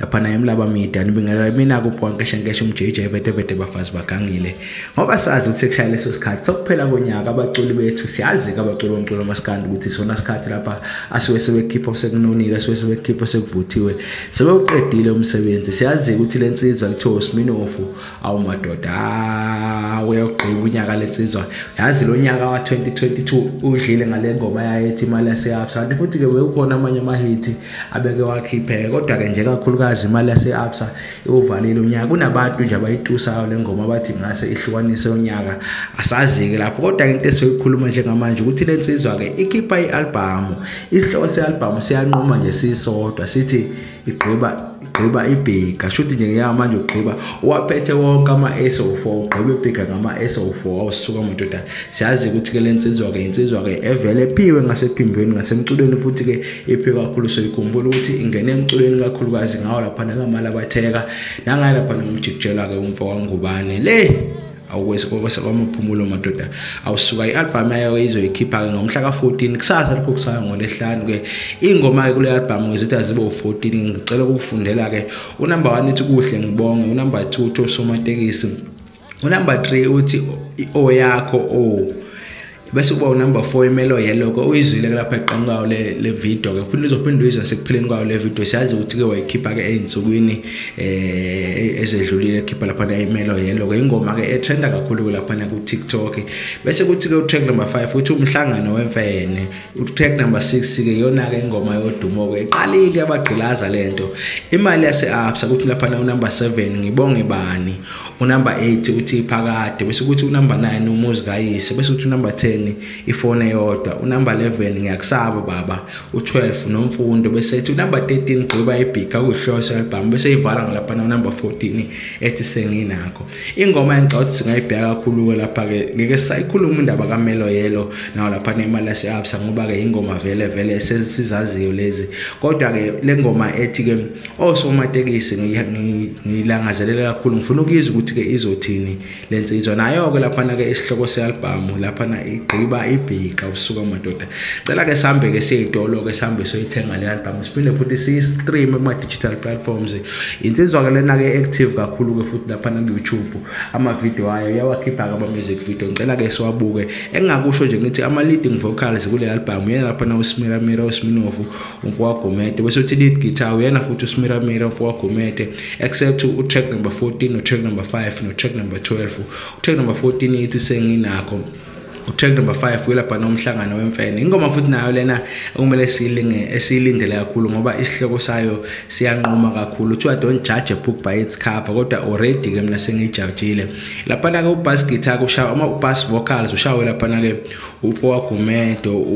lapha naye mlaba mida nibingelela mina kufoka nkeshe nkeshe umjj vete vete bafazi bagangile ngoba sazi ukuthi sekushaya leso sikhathi sokuphela konyaka abaculi bethu siyazi ke abaculi bomculo masikandi ukuthi sona sikhathi lapha asuke sebekhipha sekunonile asuke sebekhipha sekuvuthiwe sebewuqedile umsebenzi siyazi ukuthi le nsizwa kuthiwa usiminofu awu madoda ah, uyogqiba unyaka lensizwa yazi lo nyaka wa-2022 udlile ngale ngoma yayethi imali yase-absa kanti futhi-ke wewukhona amanye amahithi abeke wakhipheke kodwa-ke nje kakhulukazi imali yase-absa iwuvalile unyaka kunabantu nje abayitusayo le ngoma bathi ngase ihlukanise unyaka asazi-ke lapho kodwa-ke into esiyoyikhuluma njengamanje ukuthi le nsizwa-ke ikhipha i-albhamu isihloko se-albhamu siyanquma nje sisodwa sithi igqiba igqiba ibhega shuthi nje ngeke manje ugqiba waphethe wonke ama-SO4 ugqiba ibhega ngama-SO4 awusuka madoda siyazi ukuthi ke le nsizwa-ke insizwa-ke evele ephiwe ngasephimbweni ngasemculweni futhi-ke iphiwe kakhulu soyikhumbula ukuthi ingene emculweni kakhulukazi ngawo laphana kamalabatheka nangaye laphana umjikijelwa-ke umfo wangubane le awukwesabamaphumulo madoda awusuka i-albhamu yayo izoyikhipha-ke ngomhla ka-14 kusasa lokho kusaya ngolesihlanu-ke iy'ngoma-ke kule albhamu ngizithi azibe u-14 ngicela ukukufundela-ke unumber one ithi kuhle ngibonge unumber two uthi osomatekisi unumber three uthi o yakho o oh. bese kuba unumber four imelo yeloko uyizwile lapha eqhamu kwayo le video ke futhi uzophinde uyizwa sekupheleni kwayo le video siyazi ukuthi ke wayikhipha ke ey'nsukwini um eh, ezedlulile ekhipha laphana imelo yeloko ingoma ke etrenda kakhulu-ke laphana ku-tiktok bese kuthi-ke utrack number five uthi umhlangano wemfene utrack number six-ke iyona-ke ingoma yodumo-ke iqalile yabagqilaza le nto imali yase-absa kuthi laphana unumber seven ngibonge bani unumber 8 uthi phakade bese kuthi unumber 9 umuzi kayise bese kuthi unumber 10 ifone eyodwa unumber 11 ngiyakusaba baba u12 nomfundo bese ethi unumber 13 gqiba ibhika kuhlose album bese ivala ngalapha na number 14 ethi senginakho ingoma engicabanga singayibheka kakhulu ke lapha ke ngeke sayikhuluma indaba kaMelo Yelo nawo lapha nemali yase-Absa ngoba ke ingoma vele vele sesizaziyo lezi kodwa ke lengoma ethi ke osomatekisi ngiyilangazelela kakhulu ngifuna ukuyizwa ukuthi-ke izothini le nsizwa nayo-ke laphana-ke isihloko se-albhamu laphana igqiba ibhika usuka madoda cela-ke sihambe-ke siyeyitolo-ke sihambe soyithenga le albhamu siphinde futhi siyi-streame kuma-digital platforms insizwa-ke lena-ke active kakhulu-ke futhi laphana ku-youtube amavidiyo ayo uyawakhipha-ke ama-music video ngicela-ke siwabuke engingakusho nje ngithi ama-leading vocals kule albhamu yena laphana usimeramira usiminovu umfowagumede bese uthi lead guitar uyena futhi usmiramira umfowagumede except utrack number 14 notrack number 5 notrack number 12 utrack number 14 ithi senginakho utrack number 5 uyelapha nomhlangano wemfene ingoma futhi nayo lena okumele siyilinge esiyilindele kakhulu ngoba isihloko sayo siyanquma kakhulu kuthiwa don't judge a book by its cover kodwa already ke mina sengijajile laphana ke ubass guitar kushaya uma ubass vocals ushaya laphana ke ufo wakho umedo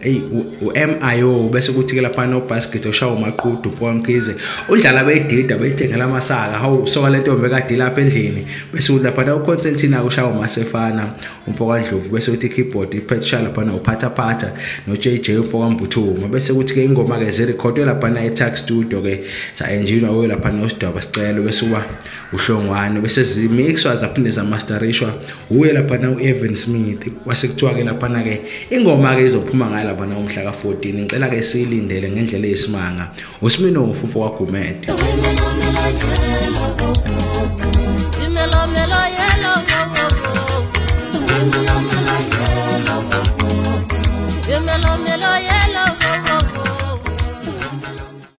eyi u-mio bese kuthi-ke laphana obasket oshawa umaqudu ufo wamkhize udlala bedida beyithengela amasaka hawu soka le ntombi ekade ilapha endlini bese kuthi laphana uconsentina kushawa umasefana umfo kandlovu bese kuthi i-keyboard iphethisha laphana uphathaphatha no-j j umfo kambuthuma bese kuthi-ke ingoma-ke zirekhodwe laphana e-tax studio-ke sa-enjinwa kuyo laphana osidwaba sicelo bese uba uhlongwane bese zimixwa zaphinde zamastarishwa wuye laphana u-evan smith kwase kuthiwa-ke laphana-ke ingoma-ke izophuma ngayo laphana umhla ka-14 ngicela-ke siyilindele ngendlela eyisimanga usminofu mfo kwagumede